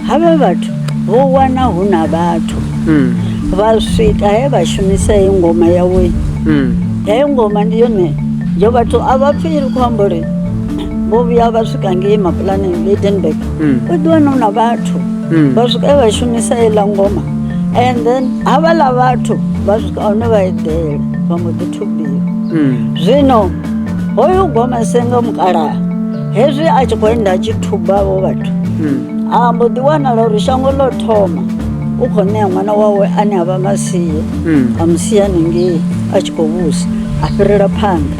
havha vhathu vho wana hu na vhathu Mm. vha swika he vha shumisa heyi ngoma yawe Mm. heyo ngoma ndi yone yo vhathu a vha pfi ri khou amba uri vho vhuya vha swika ngei mapulaneng bedenburg u ḓi wana u na vhathu vha swika e vha shumisa heiḽa ngoma and then havhaḽa vhathu vha swika hone vha eḓela vha mbo ḓi thubiwa zwino hoyu goma senga mukalaha hezwi a tshi khou enda a tshi thubavho vhathu a mbo ḓi wanala uri shango ḽo thoma u khou ṋea ṅwana wawe ane a vha masie a musia hanengei a tshi khou vhusa a fhirela phanḓa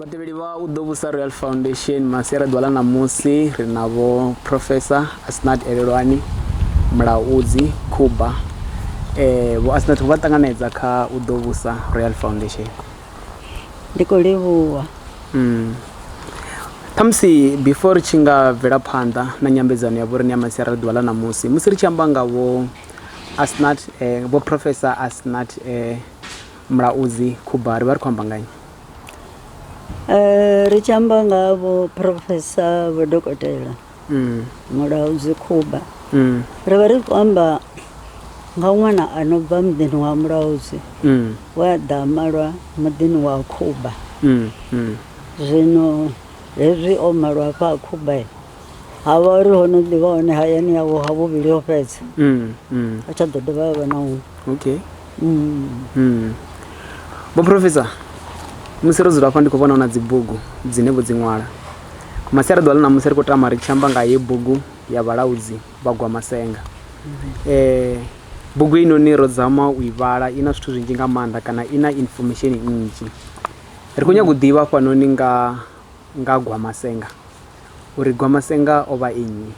vhatevheli vha u ḓo vhusa royal foundation masiari ḓwala ṋamusi ri na vho professor asnat elelwani mulaudzi khuba um vho asnat vho vha ṱanganedza kha u ḓo vhusa royal foundation ndi khou livhuwa mm. khamusi before ri tshi nga bvela phanḓa na nyambedzano ya vhorine ya masiara ri ḓuvha ḽa ṋamusi musi ri tshi amba nga vho asnat eh, vho professor asnat eh, mulaudzi khuba ri vha ri khou amba nganyi um ri tshi amba nga vho professor vho dokotela Mulaudzi Khuba, Ri vha ri khou amba nga ṅwana a no bva muḓini wa Mulaudzi we a ḓa a malwa muḓini wa Khuba. Zwino hezwi o malwa hafha ha Khuba, ha vha uri ho no ḓi vha hone hayani yawe ha vhuvhili ho fhedza, ha tsha ḓo dovha ha vha na huṅwe. Okay. Vho Professor, musi ro dzula hafha ndi khou vhona hu na dzibugu dzine vho dzi ṅwala. Nga masiari ḓuvha ḽa ṋamusi ri khou tama ri tshi amba nga heyi bugu ya vhalaudzi vha gwa masenga. Eh bugu ino ni ro dzama u i vhala ina zwithu zwinzhi nga maanḓa kana ina information nnzhi. Ri khou nyaga u ḓivha hafha noni nga nga gwa masenga uri gwa masenga ovha e nnyi.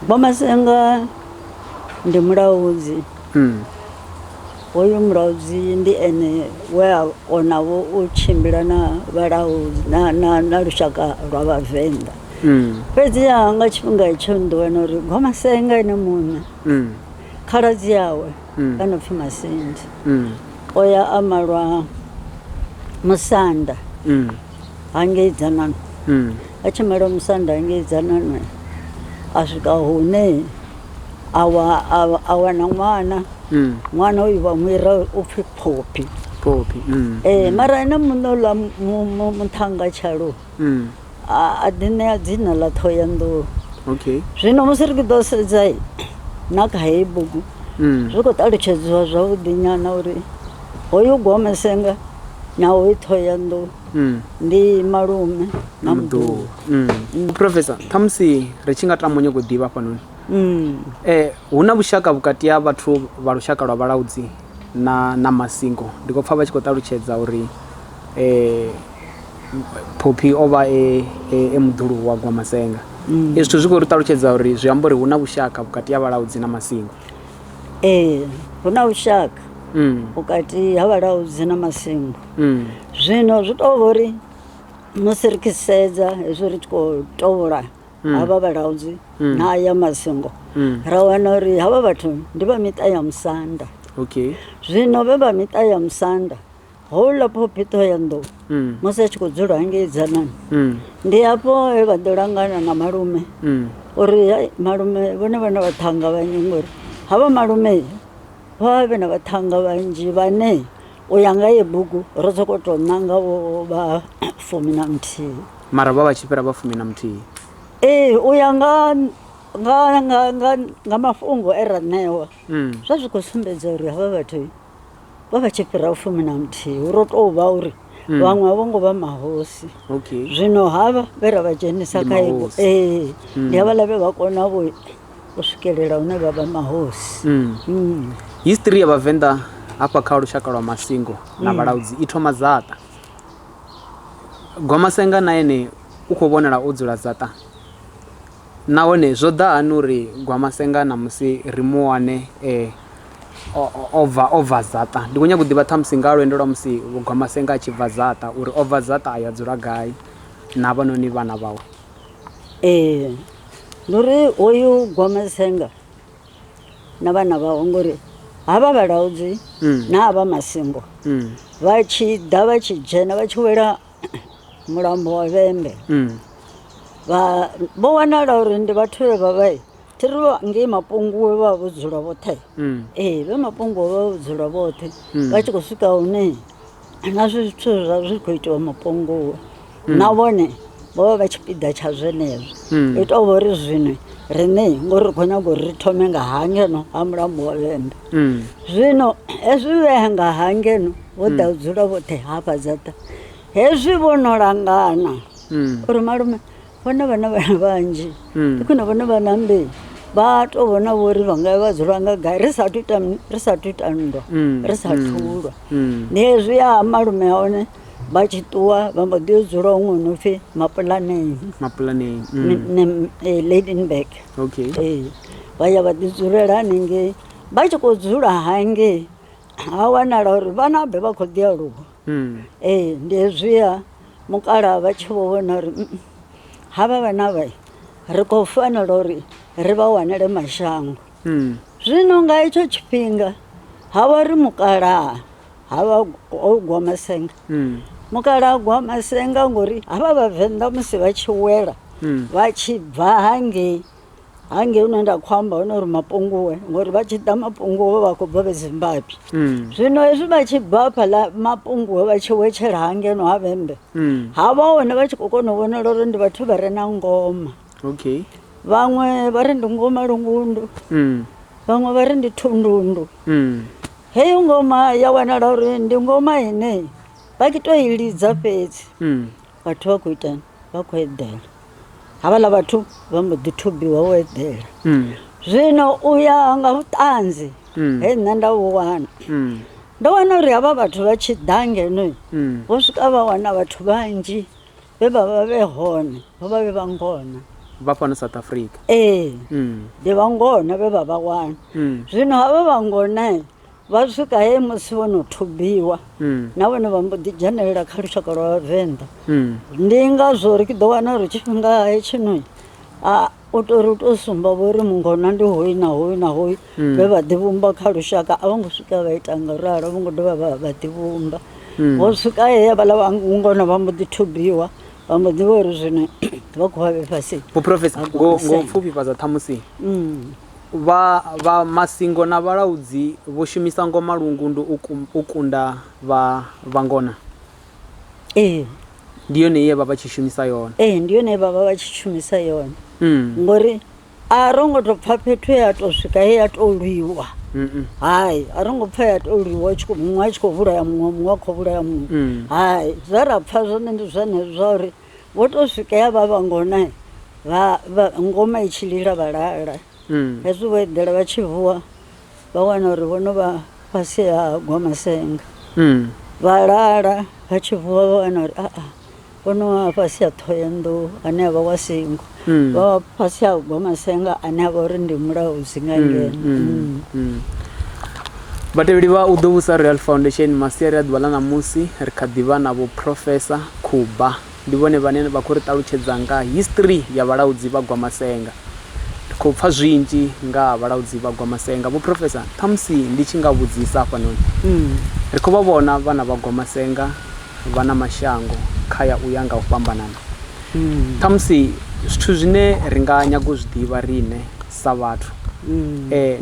Vho Masenga ndi mulaudzi Mm. hoyu mulaudzi ndi ene we a konavho u tshimbila na vhalaudzi na, na, na lushaka lwa vhavenḓa Mm. fhedziha nga tshifhinga itsho ndi wana uri gwamasenga ene muṋe Mm. khaladzi yawe Mm. a no pfi masindi Mm. o ya a malwa musanda Mm. hangei dzanani mm. a tshi mela musanda hangei dzanani a swika hune a wana ṅwana mm. ṅwana uyu vha muira u pfhi phophi phophi mm. ee mara ene muṋe uḽa muṱhanga tshalo a ḓi ṋea dzina ḽa ṱhohoyanḓou okay zwino musi ri ḓo sedza na kha heyi bugu zwi khou ṱalutshedziwa zwavhuḓi nyana uri Hoyu Gwamesenga na hoyu Thohoyanḓou mm. ndi malume na mduhu mm. mm. Professor, khamusi ri tshi nga tama nyoko ḓivha hafhanoni mm. eh, hu na vhushaka vhukati ha vhathu vha lushaka lwa vhalaudzi na, na masingo ndi khou pfa vha tshi khou ṱalutshedza uri eh, phophi o vha e, e, e muḓulu wa Gwamesenga mm. ezwi zwithu zwi khou ri ṱalutshedza uri zwi amba uri hu na vhushaka vhukati ha vhalaudzi na masingo ee hu na lushaka mm. vhukati ha vhalaudzi na masingo mm. zwino zwi tou vha uri musi ri khisedza hezwi ri tshi khou tovhola mm. havha vhalaudzi mm. na ya masingo mm. ra wana uri havha vhathu ndi vha miṱa ya musanda okay. zwino vhe vha miṱa ya musanda houḽa phophiṱho ya nḓou mm. musi a tshi khou dzula ngei dzanani mm. ndi hafho he vha ḓo langana na malume mm. uri malume vhone vha na vhaṱhanga vhanzhi ngori havha malume vha vhe na vhaṱhanga vhanzhi vhane u ya nga ye bugu ro sokou tou ṋanga vho vha fumi na muthihi mara vha vha tshi fhira vha fumi na muthihi ee u ya nga nga nga nga mafhungo e ra ṋewa zwa zwi khou sumbedza uri havha vhathu vha vha tshi fhira fumi na muthihi hu ro tou vha uri hmm. vhaṅwe a vho ngo vha mahosi zwino havha vhe ra vha dzhenisa kha ibo ee hmm. ndi havhaḽa vhe vha kona vho u swikelela hune vha vha mahosi hmm. history ya vhavenḓa hafha kha lushaka lwa masingo na vhalaudzi i thoma dzaṱa gwamasenga na ene u khou vhonala o dzula dzaṱa Nahone zwo ḓa hani uri Gwamasenga ṋamusi ri mu wane e o bva, o bva Zaṱa? Ndi khou nyaga u ḓivha ṱhamusi nga ha lwendo lwa musi Gwamasenga a tshi bva Zaṱa, uri o bva Zaṱa a ya dzula gai na havhanoni vhana vhawe. Ee, ndi uri hoyu Gwamasenga na vhana vhawe ngori havha vhalaudzi na havha masingo vha tshi ḓa vha tshi dzhena vha tshi wela mulambo wa vhembe mm. vha vho wanala uri ndi vhathu vhe vha vha thi ri ngei mapunguwe vha vho dzula vhoṱhe mm. ee vhe mapunguwe vha vho dzula vhoṱhe mm. vha tshi khou swika hune na zwi zwithu zwa zwi khou itiwa mapunguwe na vhone vho vha vha tshipiḓa tsha zwenezwo i tou vha uri zwino rine ngori ri khou nyaga uri ri thome nga hangeno ha mulambo wa vhembe zwino hezwi vhe nga hangeno vho ḓa u dzula vhoṱhe hafha dzaṱa hezwi vho no langana Mm. uri malume vhone vha na vhana vhanzhi Mm. ndi khwine vhone vha na mbili vha to vhona vho uri vha nga vha dzula nga gai ri sathu ita mi- ri sathu ita nndwa Mm, ri sathu lwa Mm. ndi hezwi ya malume a hone vha tshi ṱuwa vha mbo ḓi yo dzula huṅwe no pfhi mapulaneni mapulanei mm. ne- eh, ladenburg okay ee vha ya vha ḓidzulela hanengei vha tshi khou dzula hangei ha wanala uri vhana vhe vha khou ḓi aluwa ee ndi hezwiya mukalaha vha tshi vho vhona uri havha vhana vha ri khou fanela uri ri vha wanele mashango zwino nga hetsho tshifhinga ha vha ri mukalaha ha vha o gwa masenga mukalaha gwa masenga ngori havha vhavenḓa musi vha tshi wela vha tshi bva hangei hangei hune nda khou amba hone uri mapunguwe ngori vha tshi ḓa mapunguwe vha khou bva vhe zimbabwe mm. zwino hezwi vha tshi bva hafhaḽa mapunguwe vha tshi wetshela ha ngeno ha vhembe mm. ha vha hone vha tshi khou kona u vhonala uri ndi vhathu vha re na ngoma okay vhaṅwe vha ri ndi ngoma lungundu mm. vhaṅwe vha ri ndi thundundu mm. heyo ngoma ya wanala uri ndi ngoma ine vha ki to i lidza fhedzi mm. vhathu vha khou itani vha khou eḓela havhala vhathu vha mbo ḓi thubiwa u eḓela mm. zwino u ya nga vhuṱanzi mm. he nṋe nda vhu wana mm. ndo wana uri havha vhathu vha tshi ḓa ngeno vho swika vha wana vhathu vhanzhi vhe vha vha vhe hone vho vha vhe vha ngona vha fhano south africa ee ndi vha ngona vhe vha vha wana zwino havha vha ngona Vha swika he musi vho no thubiwa mm. na vhone vha mbo ḓi dzhenelela kha lushaka lwa vhavenḓa mm. ndi ngazwo ri ḓo wana uri tshifhinga hetshino u tori u tou sumba vho ri mungona ndi hoyu na hoyu na hoyu mm. vhe vha ḓivhumba kha lushaka a vho ngo swika vha ita nga ralo vho ngo dovha vha vha ḓivhumba mm. vho swika he havhala vhangona vha mbo ḓi thubiwa vha mbo ḓi vha uri zwino vha khou vha vhe fhasi vhuprofesa ngo pfufhifhadza ṱhamusi mm. Vha vha masingo na vhalaudzi vho shumisa ngoma lungundu u ku, u kunda vha vhangona. Ee. Ndi yone ye vha vha tshi shumisa yone. Ee, ndi yone ye vha vha vha tshi shumisa yone. Mm. Ngori a ro ngo to pfa fhethu ya to swika he ya to lwiwa. Mm. Hai, a ro ngo pfa ya to lwiwa tshi muṅwe a tshi khou vhulaya muṅwe muṅwe a khou vhulaya muṅwe. Mm. Hai, zwa ra pfa zwone ndi zwenezwo zwa uri Vho to swika ya vha vha ngona vha vha ngoma i tshi lila vha lala Mm. hezwi vho eḓela vha tshi vuwa vha wana uri vho no vha fhasi ha gwa masenga Mm. vha lala vha tshi vuwa vha wana uri aa vho no vha fhasi ha ṱhohoyanḓou ane a vha wa singo mm. vha fhasi ha ugwa masenga ane a vha uri ndi mulaho zwi nga mm, ngeno mm, mm. vhatevheli vha u ḓo vhusa real foundation masiari a ḓuvha ḽa ṋamusi ri kha ḓivha na vho profesa khuba ndi vhone vhane vha khou ri ṱalutshedza nga history ya vhalaudzi vha gwa masenga ri khou pfha zwinzhi nga vhalaudzi vha gwa masenga vho profesa ṱhamusi ndi tshi nga vhudzisa hafhanoni ri khou vha vhona vhana vha gwa masenga vha na mashango kha ya u ya nga u fhambanana Khamusi zwithu zwine ri nga nyaga u zwi ḓivha riṋe sa vhathu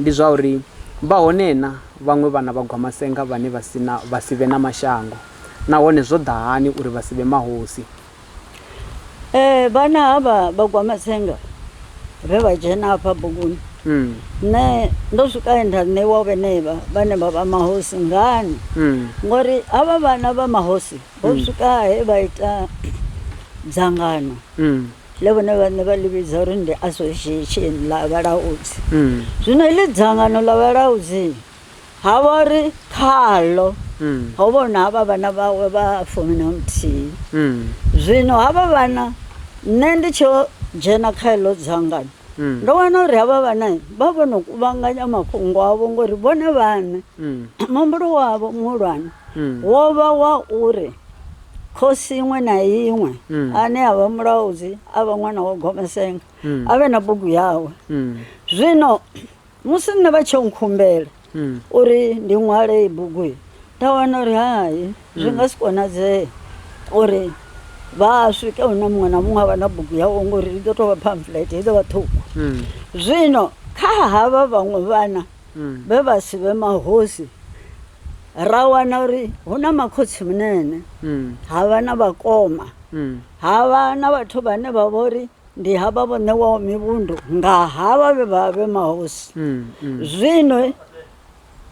ndi zwa uri vha hone na vhaṅwe vhana vha Gwamasenga vhane vha si na, vha si vhe na mashango, nahone zwo ḓa hani uri vha si vhe mahosi? Vhana havha vha Gwamasenga vhe vha dzhena hafha buguni, nṋe ndo swika he nda ṋeiwa vhenevha vhane vha vha mahosi. Ngani? Ngori havha vhana vha mahosi Ho mm. swika he vha ita dzangano mm. ḽe vhone vhaṋe vha ḽi vhidza uri ndi association ḽa vhalaudzi mm. zwino heḽi dzangano ḽa vhalaudzi ha vha uri khaḽo ho vhona havha vhana vhawe vha fumi na muthihi zwino havha vhana nṋe ndi tsho dzhena kha heḽo dzangano Mm. ndo wana uri havha vhana vha vho no kuvhanganya mafhungo avho ngori vhone vhane mm. muhumbulo wavho muhulwane wo vha wa uri khosi iṅwe na iṅwe ane a vha mulaudzi a vha ṅwana wa gomesenga a vhe na bugu yawe zwino musi nṋe vha tsho nkhumbela uri ndi ṅwale iyi bugu iyi nda wana uri hai zwi nga si konadzee uri vha swike hune muṅwe na muṅwe a vha na bugu yawe ngori i ḓo tou vha pamphlet i ḓo vha ṱhukhu zwino kha havha vhaṅwe vhana vhe vha si vhe mahosi ra wana uri hu na makhotsi munene mm. ha vha na vhakoma mm. ha vha na vhathu vhane vha vha uri ndi havha vho ṋewaho mivhundu nga havha vhe vha vhe mahosi mm, mm. zwino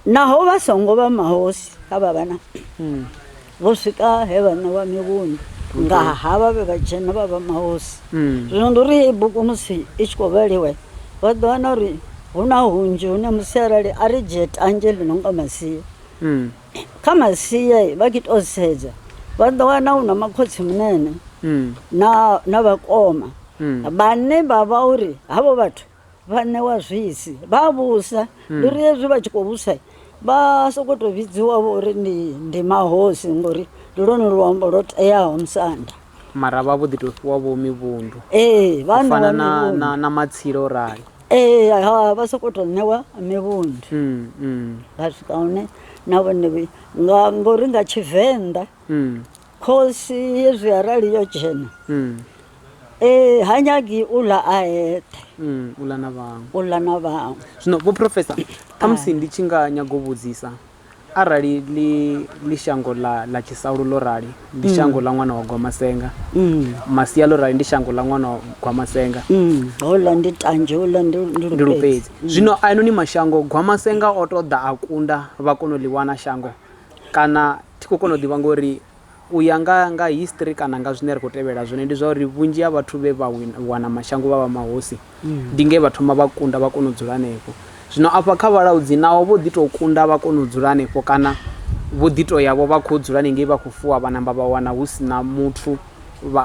naho vha songo vha mahosi ha vha vhana mm. Vho swika he vha ṋewa mivhundu nga ha vha vhe vhatshena vha vha mahosi. Zwino ndi uri heyi bugu musi i tshi khou vhaliwa, vha ḓo wana uri hu na hunzhi hune musi arali a ri dzhie tanzhe ḽi no nga masia, kha masia vha tshi tou sedza vha ḓo wana hu na makhotsimunene na vhakoma vhane vha vha uri havho vhathu vhaṋe wa zwisi vha vhusa hmm. ndi uri hezwi vha tshi khou vhusa vha sokou tou vhidziwa vho uri ndi ndi mahosi ngori ndi lwone luambo lwo teaho musanda mara vha vho ḓi tou fhiwa vho mivhundu ee vhafana na matsilo o rali ee ha vha sokou tou ṋewa mivhundu hmm, hmm. vha swika hune na vhone nga ngori nga tshivenḓa Khosi hezwi arali yo dzhena mm. eh, ha nyagi u ḽa a eṱhe mm, u ḽa na vhaṅwe u ḽa na vhaṅwe zwino vho profesa khamusi ndi tshi nga nyago u vhudzisa arali li, li shango ḽa, ḽa tshisalu ḽo rali ndi mm. shango ḽa ṅwana wa gwamasenga mm. masia ḽo rali ndi shango ḽa ṅwana wa gwamasenga mm. hola ndi tanzhe hola ndi lupedzi mm. zwino a inoni mashango gwamasenga o to ḓa a kunda vha kona u ḽi wana shango kana Thi khou kona u ḓivha ngori u ya nga nga history kana nga zwine ri khou tevhela zwone ndi zwa uri vhunzhi ha vhathu vhe vha wana mashango vha vha mahosi ndi nge vha thoma vha kunda vha kona u dzula hanefho zwino afha kha vhalaudzi naho vho ḓi tou kunda vha kona u dzula hanefho kana vho ḓi to yavho vha khou dzula ni ngei vha khou fuwa vha namba vha wana hu si na muthu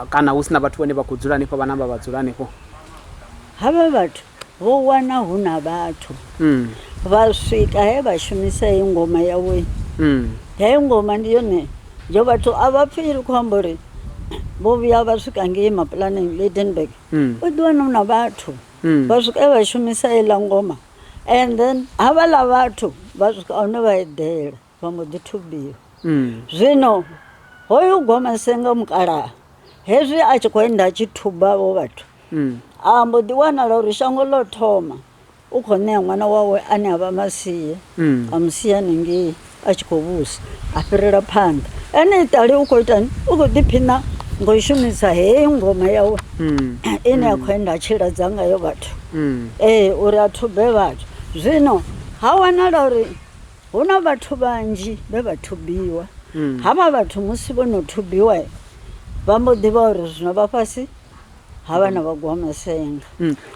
kana hu si na vhathu vhane vha khou dzula hanefho vha namba vha dzula hanefho havha vhathu vho wana hu na vhathu vha swika he vha shumisa heyi ngoma yawe heyi ngoma ndi yone yo vhathu a vha pfhi ri khou amba uri vho vhuya vha swika ngei mapulaneng lydenburg u ḓi wana hu na vhathu vha swika he vha shumisa heiḽa ngoma and then havhaḽa vhathu vha swika hune vha eḓela vha mbo ḓi thubiwa zwino hoyu gwamasenga mukalaha hezwi a tshi khou enda a tshi thuba vho vhathu a mbo ḓi wanala uri shango ḽo thoma u khou ṋea ṅwana wawe ane a vha masie a musia ningei a tshi khou vhusa a fhirela phanḓa ene itali u khou itani u khou ḓiphina ngo shumisa heyi ngoma yawe ine ya khou enda a tshi ladza ngayo vhathu ee uri a thube vhathu zwino ha wanala uri Hu na vhathu vhanzhi vhe vha thubiwa. Havha vhathu musi vho no thubiwa vha mbo ḓi vha uri zwino vha fhasi ha vha na vhagwamasenga.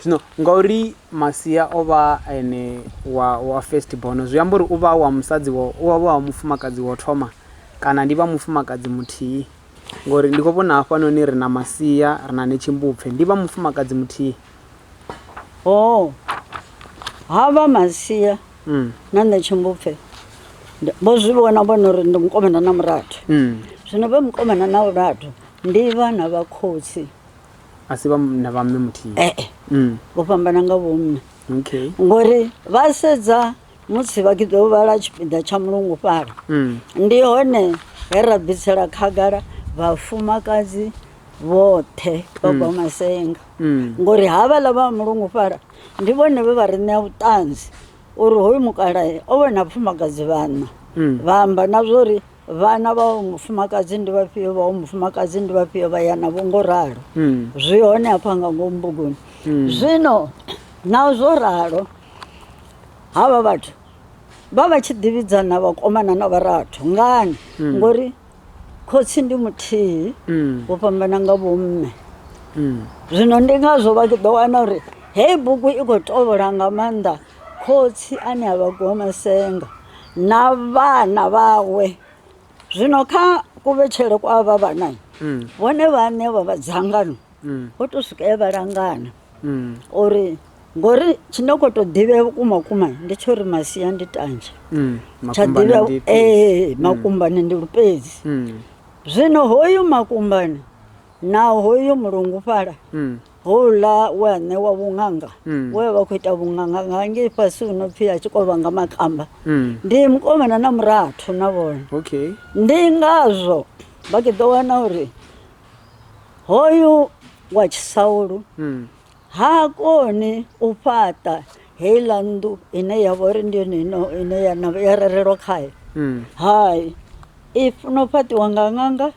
Zwino ngauri Masia o vha a ene wa, wa first born, zwi amba uri u vha a wa musadzi wa, u vha a wa mufumakadzi wa u thoma kana ndi vha mufumakadzi muthihi? Ngori ndi khou vhona hafhanoni ri na Masia, ri na Netshimbupfe. Ndi vha mufumakadzi muthihi? Oh. Hava masia Mm. na nṋe tshimbupfe ndi- vho zwi vhona vhona uri ndi mukomana na murathu Mm. zwino vhe mukomana na murathu ndi vhana vha khotsi a si vha m- na vha mme muthihi ee Mm. vho fhambana nga vhomme Okay. ngori vha sedza Musi vha tshi ḓo vhala tshipiḓa tsha mulungufhala, ndi hone he ra bvisela khagala vhafumakadzi vhoṱhe vha bva masenga ngori havhaḽa vha mulungufhala ndi vhone vhe vha ri ṋea vhuṱanzi uri hoyu mukalae o vhona vhafumakadzi vhaṋa vha amba na zwa uri vhana vha wa mufumakadzi ndi vhafhio vha wa mufumakadzi ndi vhafhio vha ya navho ngo ralo zwi hone hafha nga ngomu buguni zwino na zwo ralo havha vhathu vha vha tshi ḓivhidzana vhakomana na vharathu ngani mm. ngori khotsi ndi muthihi mm. vho fhambana nga vhomme mm. zwino ndi ngazwo vha ḓo wana uri heyi bugu i khou tovhola nga maanḓa khotsi ane a vha gomasenga na vhana vhawe zwino kha kuvhetshele kwa vha vhanani vhone vhaṋe vha vha dzangano mm. ho to swika e vha langana mm. uri ngori tshine kho to ḓivhea vhukuma kuma ndi tsho ri masia ndi tanzhe mm, tsha ḓivhea ee eh, mm. makumbane ndi lupedzi mm. zwino hoyu makumbane na hoyu mulungu fhala mm. houḽa we a ṋewa vhuṅanga mm. we vha khou ita vhuṅanga nga ngei fhasi hu no pfhi a tshi kovha nga makamba mm. ndi mukomana na murathu na vhone okay. ndi ngazwo vha ke ḓo wana uri Hoyu wa Tshisaulu hmm. ha koni u fhaṱa heiḽa nnḓu ine ya vha uri ndi yone ino ine ya na ya rerelwa khayo hmm. hai i funa u fhaṱiwa nga ṅanga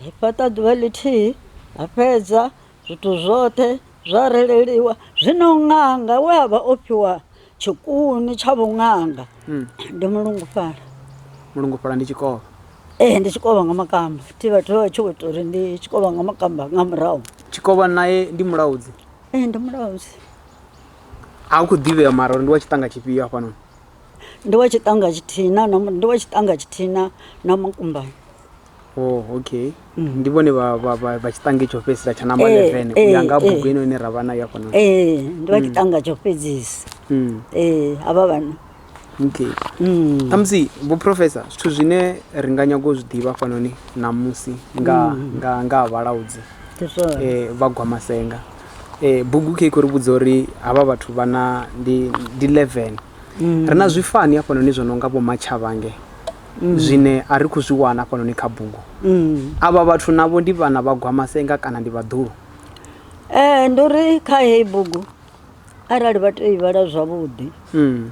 i fhaṱa ḓuvha ḽithihi a fhedza zwithu zwoṱhe zwa releliwa zwino ṅanga we a vha o fhiwa Tshikuni tsha vhuṅanga mm. ndi mulungufhala mulungufhala ndi tshikovha ee ndi tshikovha nga makamba thi vhathu vha tshi ita uri ndi tshikovha nga makamba nga murahu tshikovha naye ndi mulaudzi ee ndi mulaudzi a u khou ḓivhea mara uri ndi wa tshiṱanga tshifhio hafhanoni ndi wa tshiṱanga tshithina ndi wa tshiṱanga tshithina na makumbani Oh, okay mm. ndi vhone vha tshiṱange tsho fhedzisa tsha namba 11 eh, u ya eh, nga eh. bugu ino ine ra vha nayo afhano ee ndi vha mm. tshiṱanga tsho fhedzisa mm. ee havha vhana okay khamusi vho professor zwithu zwine ri nga nyago u zwi ḓivha fhanoni namusi nga ha vhalaudzi um vha gwa masenga um bugu khe khou ri vhudza uri havha vhathu vha na ndi 11 ri na zwifani afhanoni zwo no nga vho matshavhange mm. zwine a ri khou zwi wana hafhanoni kha bugu mm. avha vhathu navho ndi vhana vha gwamasenga kana ndi vhaḓulu ee eh, ndi uri kha heyi bugu arali vha tea ivhala zwavhuḓi mm.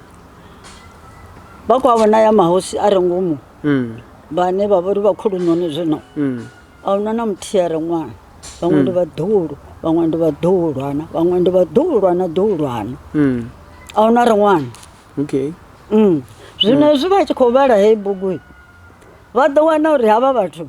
vha khou avhona ya mahosi a re ngomu mm. vhane vha vhori vha khulunoni zwino mm. a huna na muthihi a re ṅwana vhaṅwe ndi mm. vhaḓulu vhaṅwe ndi vhaḓulwana vhaṅwe ndi vhaḓulwana ḓulwana mm. a huna re ṅwana okay Mm. zwino hezwi vha tshi khou vhala heyi bugu i, vha ḓo wana uri havha vhathu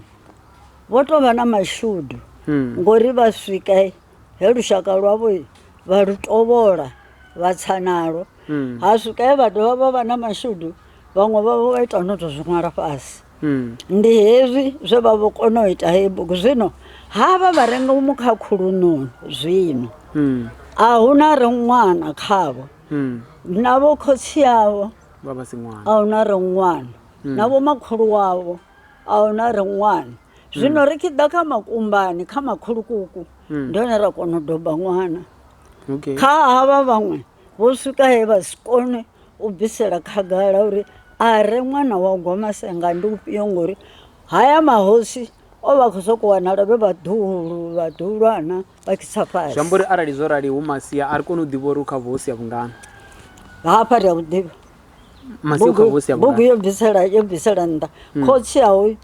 vho tou vha na mashudu Mm. ngori vha swika i, he lushaka lwavho i, vha lu tovhola vha tsa nalo Mm. ha swika he vha dovha vha vha na mashudu vhaṅwe vhavho vha ita no tou zwi ṅwala fhasi Mm. ndi hezwi zwe vha vho kona u ita heyi bugu zwino havha vha renga mu khakhulunoni zwino Mm. a hu na re ṅwana khavho mm. na vho khotsi avho vha vha si ṅwana a huna re ṅwana mm. na vho makhulu wavho a huna re ṅwana mm. zwino ri tshi ḓa kha makumbani kha makhulukuku mm. ndi hone ra kona u doba ṅwana okay. kha havha vhaṅwe vho swika he vha si kone u bvisela khagala uri a re ṅwana wa gomasenga ndi ufhio ngori haya mahosi o vha khou sokou wanala vhe vhaḓuhulu vhaḓuhulwana zwi amba uri arali zwo rali hu masia a ri koni u ḓivha uri u kha vhuhosi ya vhungana hafha ri a vhuḓivha masia u kha vhuhosi ya bugu yo bvisela yo bvisela nnḓa hmm. khotsi awe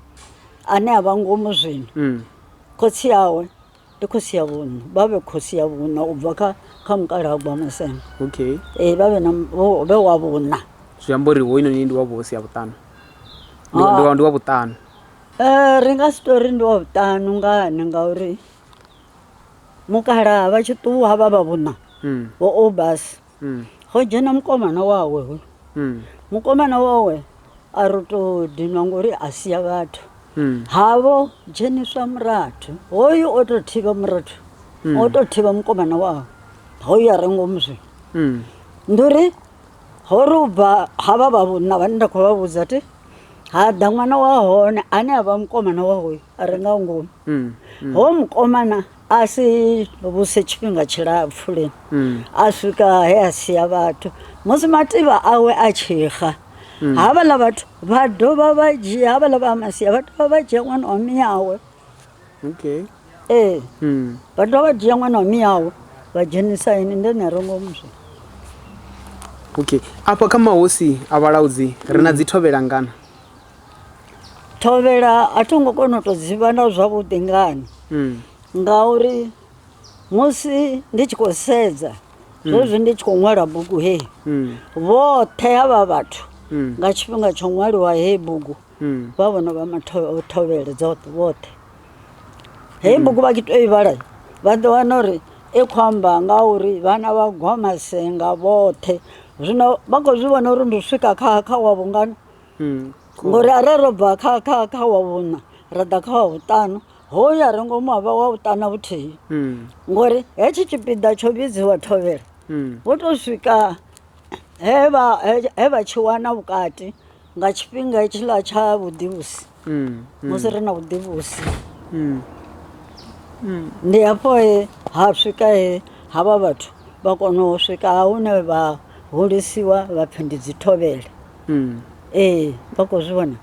ane a vha ngomu zwino hmm. khotsi awe ndi khosi ya vhuṋa vha vhe khosi ya vhuṋa u bva kha kha mukalagwa masema okay ee vha vhe na vhe wa vhuṋa zwi amba uri hoyinoni ndi wa vhuhosi ya vhuṱanu ndi wa ah. vhuṱanu um ri nga si tori ndi wa vhuṱanu ngani ngauri mukalaha vha tshi ṱuwa vha vha vhuṋa mm. vho obas mm. go dzhena mukomana wawe hoyu mm. mukomana wawe a ri to dinwa ngori a sia vhathu havo dzheniswa murathu hoyu o to thivha murathu o to thivha mukomana wawe hoyu a re ngomu zwi ndi uri ho ri u bva ha vha vha vhuṋa vhane nda khou vha vhudza ti ha ḓa ṅwana wa hone ane a vha mukomana wa hoyu A re nga ngomu. Hoyo mukomana a si vhuse tshifhinga tshilapfu lini, a swika he a sia vhathu. Musi mativha awe a tshi xa, havhaḽa vhathu vha dovha vha dzhia, havhaḽa vha Amasia vha dovha vha dzhia ṅwana wa miawe. Okay. Ee, vha dovha vha dzhia ṅwana wa miawe vha dzhenisa ene, ndi ene a re ngomu zwino. Okay. Afha kha mahosi a vhalaudzi ri na dzithovhelangana. thovhela a tho ngo kona u tou dzi vhona zwavhuḓi ngani mm. ngauri musi ndi tshi khou sedza mm. zwezwi ndi tshi khou ṅwala bugu heyi mm. vhoṱhe ha vha vhathu nga tshifhinga tsho ṅwaliwa heyi bugu vha vhona vha mathovhele dzoṱhe vhoṱhe heyi bugu vha ki to i vhala vha ḓo wana uri i khou amba nga uri vhana vha gwa masenga vhoṱhe zwino vha khou zwi vhona uri ndi swika kha kha wa vhungana ngori arali ro bva kha kha kha wa vhuṋa ra ḓa kha wa vhuṱanu hoyo a re ngomu havha wa vhuṱana vhuthihi ngori hetshi tshipiḓa tsho vhidziwa thovhela vho tou swika he vha he vha tshi wana vhukati nga tshifhinga hetshiḽa tsha vhuḓivhusi musi ri na vhuḓivhusi ndi hafho he ha swika he ha vha vhathu vha kona u swika hune vha hulisiwa vha pfhi ndi dzithovhele ee vha khou zwi vhona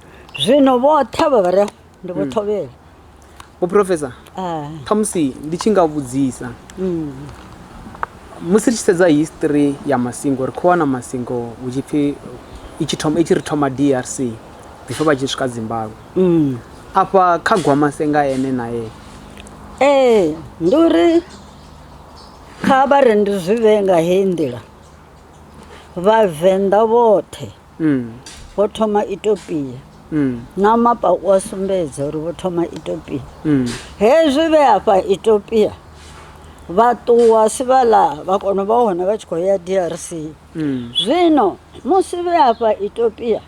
zwino vhoṱhe vha vha re ndi vho thovhela vho professor Ah, khamusi ndi tshi nga vhudzisa mm, musi ri tshi sedza history ya masingo ri khou wana masingo hu tshi pfhi i tshi thoma- i tshi ri thoma drc before vha tshi swika zimbabwe mm. afha kha gwamasenga ene naye ee ndi uri kha vha re ndi zwi vhee nga heyi nḓila Vhavenḓa vhoṱhe vho thoma Itopia na mapa u a sumbedza uri vho thoma Itopia. Hezwi vhe afha Itopia vha ṱuwa Sivhala vha kona u vha hone vha tshi khou ya DRC. Zwino musi vhe afha Itopia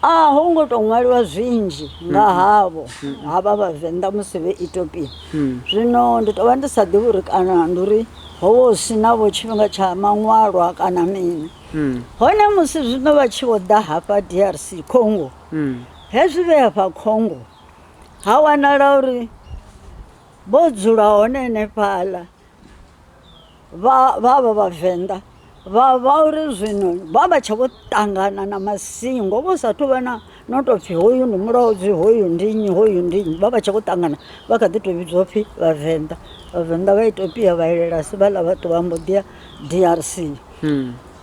a ho ngo tou ṅwaliwa zwinzhi nga mm. havho mm. havha vhavenḓa musi vhe itopia mm. zwino ndi tou vha ndi sa ḓivhi uri kana ndi uri howo si navho tshifhinga tsha maṅwalwa kana mini hone musi zwino vha tshi vho ḓa hafha drc congo hezwi vhe hafha congo ha wanala uri vho dzula hone henefhaḽa vha vha vha vhavenḓa vha vha uri zwino vha vha tsha vho ṱangana na masingo vho sa thu vha na no tou pfhi hoyu ndi mulodzi hoyu ndi nnyi hoyu ndi nnyi vha vha tsha vho ṱangana vha kha ḓi tou vhidzwa pfhi vhavenḓa vhavenḓa vha itopia vha elela si vhaḽa vhathu vha mbo ḓia drc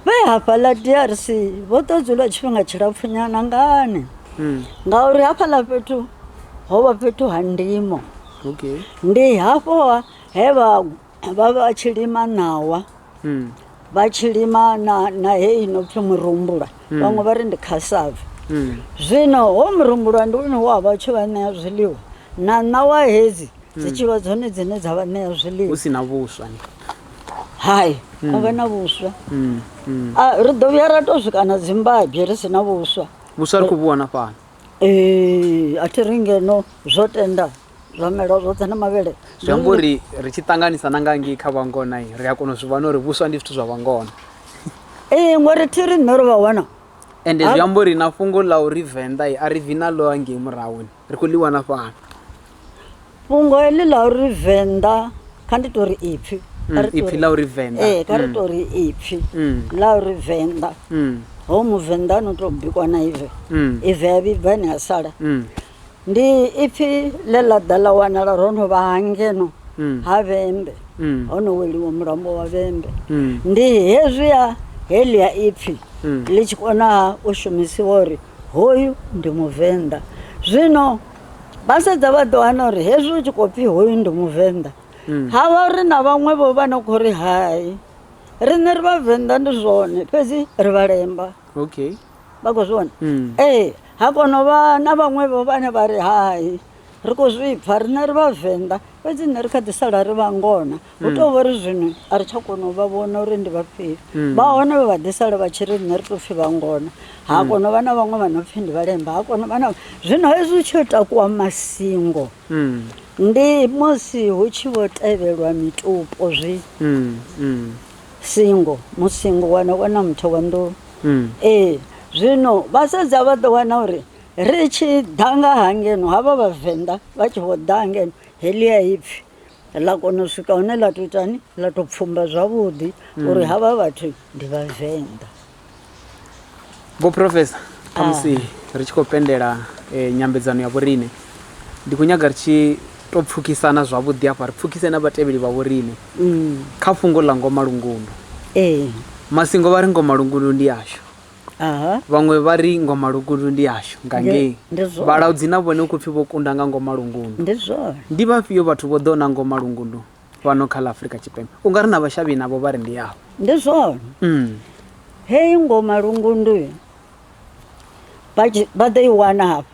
vhe hafhaḽa drc vho ḓo dzula tshifhinga tshilapfunyana ngani ngauri hafhaḽa fhethu ho vha fhethu ha ndimo okay ndi hafho ha he vha vha vha tshi lima ṋawa Mm. vha tshi lima na, na heyi ino pfi murumbula vhaṅwe vha ri ndi khasave Mm. zwino ho murumbulwa ndi une wa vha u tshi vha ṋea zwiḽiwa na ṋawa hedzi dzi tshi vha dzone dzine dza vha ṋea hu zwiḽiwa si na vhuswa ni hai a vha na vhuswa Mm. Mm. A, ri ḓo vhuya ra tou swika na dzimbabye ri si na vhuswa vhuswa ri khou vhu wana fhano Ee, a thi ri ngeno zwo tenda zwamelwa zwoṱhe na mavhele zwi amba uri ri tshi ṱanganisa na nga ngei kha vhangona ri a kona u zwi vhona uri vhuswa ndi zwithu zwa vhangona ee ngori thi ri nṋe ro vha wana ende zwi amba uri na fhungo ḽa uri venḓa a ri vi na ḽo angei murahuni ri khou ḽi wana fhano fhungo heḽi ḽa uri venḓa kha ndi tori ipfhi Kha ri Mm, ipfi tori- ḽa uri venḓa ee kha ri Mm, tori ipfhi Mm. ḽa uri venḓa mm, ho muvenḓa no to bikwa na ive mm, ive ya vhibva ene a sala mm, ndi ipfhi ḽe ḽa ḓa ḽa wanala ro no vha hangeno Mm. ha vhembe mm, ho no weliwa mulambo wa vhembe mm, ndi hezwiya heḽia ipfhi Mm. ḽi tshi konaha u shumisiwa uri hoyu ndi muvenḓa zwino Vhasedza vha ḓo wana uri hezwi u tshi khou pfi hoyu ndi muvenḓa mm. ha vha uri na vhaṅwe vho vha no khou ri hai riṋe ri vhavenḓa ndi zwone fhedzi ri vhalemba okay vha khou zwi vhona mm. ee ha kono vha na vhaṅwe vho vhane vha ri hai ri khou zwi pfa riṋe ri vhavenḓa fhedzi nṋe ri kha ḓi sala ri vhangona hu mm. tou vha ri zwino a ri tsha kona u vha vhona uri ndi vhafhio mm. vha hone vhe vha ḓi sala vha tshi ri riṋe ri tou pfhi vha ngona ha mm. kona u vha na vhaṅwe vha no pfhi ndi vhalemba ha kona u vha na zwino hezwi hu tshi yo takuwa masingo ndi musi hu tshi vho tevhelwa mitupo zwi singo musingo wana wana muthe wa nḓou ee zwino vha sedza vha ḓo wana uri ri tshi ḓa nga ha ngeno havha vhavenḓa vha tshi vho ḓa ngeno helia ipfhi ḽa kona u swika hune ḽa to itani ḽa to pfumba zwavhuḓi mm. uri havha vhathu ndi vhavenḓa vho professor khamusi ah. ri tshi khou pendela eh, nyambedzano ya vhorine ndi khou nyaga ri tshi to pfukisana zwavhuḓi afha ri pfukise na vhatevheli vha vhorine mm. kha fhungo ḽa ngoma lungundu ee eh. masingo vha ri ngoma lungundu ndi ashu Vhaṅwe vha ri Ngoma Lugundu ndi yashu nga ngei. Vhalaudzi na vhone hu khou pfi vho kunda nga Ngoma Lungundu. Ndi vhafhio vhathu vho ḓo na Ngoma Lungundu fhano kha ḽa Afrika Tshipembe? U nga ri na vhashavhi navho vha ri ndi yavho. Ndi zwone. Heyi Ngoma Lungundu vha ḓo i wana hafha.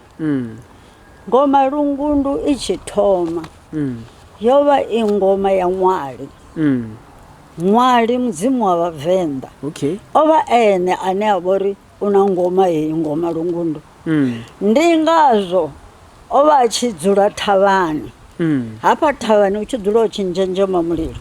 Ngoma Lungundu i tshi thoma yo vha i ngoma ya ṅwali. Ṅwali mudzimu wa Vhavenḓa o vha e ene ane a vha uri u na ngoma heyi Ngoma Lungundu. Ndi ngazwo o vha a tshi dzula thavhani, hafha thavhani u tshi dzula u tshi nzhenzhema mulilo.